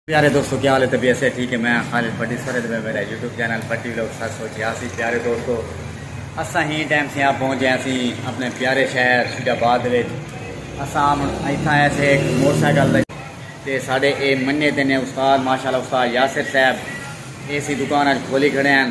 پیارے دوستو کیا حال ہے طبیعت سے ٹھیک ہے میں خالد بٹی سر میں میرا یوٹیوب چینل بٹی لوگ سر سوچے آسی پیارے دوستو اساں ہی ٹائم سے آپ پہنچے آسی اپنے پیارے شہر شید آباد وچ اساں ایتھاں ایسے ایک موٹر سائیکل تے ساڈے اے منے تے نے استاد ماشاءاللہ استاد یاسر صاحب ایسی دکان اچ کھولی کھڑے ہیں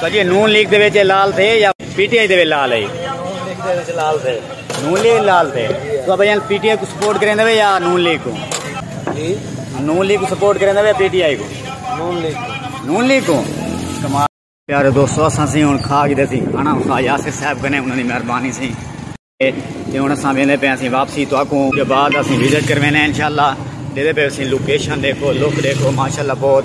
سجے نون لیگ دے وچ لال تھے یا پی ٹی آئی دے وچ لال ہے نون لیگ دے وچ لال تھے نون لیگ لال تھے تو بھائی پی ٹی آئی کو سپورٹ کریں دے یا نون لیگ کو جی نون لیگ کو سپورٹ کریں دے پی ٹی آئی کو نون لیگ کو نون لیگ کو کمال پیارے دوستو اساں سی ہن کھا کے سی کھانا کھا یاسر صاحب کنے انہاں دی مہربانی سی تے ہن اساں ویندے پے اسی واپسی تو اکوں کے بعد اسی وزٹ کروینے انشاءاللہ دے دے پے اسی لوکیشن دیکھو لوک دیکھو ماشاءاللہ بہت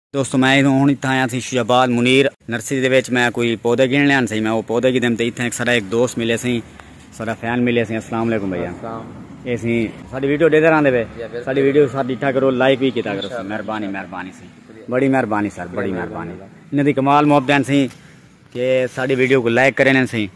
دوستو میں ہن اتھاں آیا سی شیخ آباد منیر نرسری دے وچ میں کوئی پودے گھن لیان سی میں او پودے گھن دیم تے اتھاں ایک سارا ایک دوست ملے سی سارا فین ملے سی السلام علیکم بھیا اے سی ساڈی ویڈیو دے دراں دے وے ساڈی ویڈیو سب ڈٹھا کرو لائک وی کیتا کرو مہربانی مہربانی سی بڑی مہربانی سر بڑی مہربانی انہاں دی کمال محبت سی کہ ساڈی ویڈیو کو لائک کرے نے سی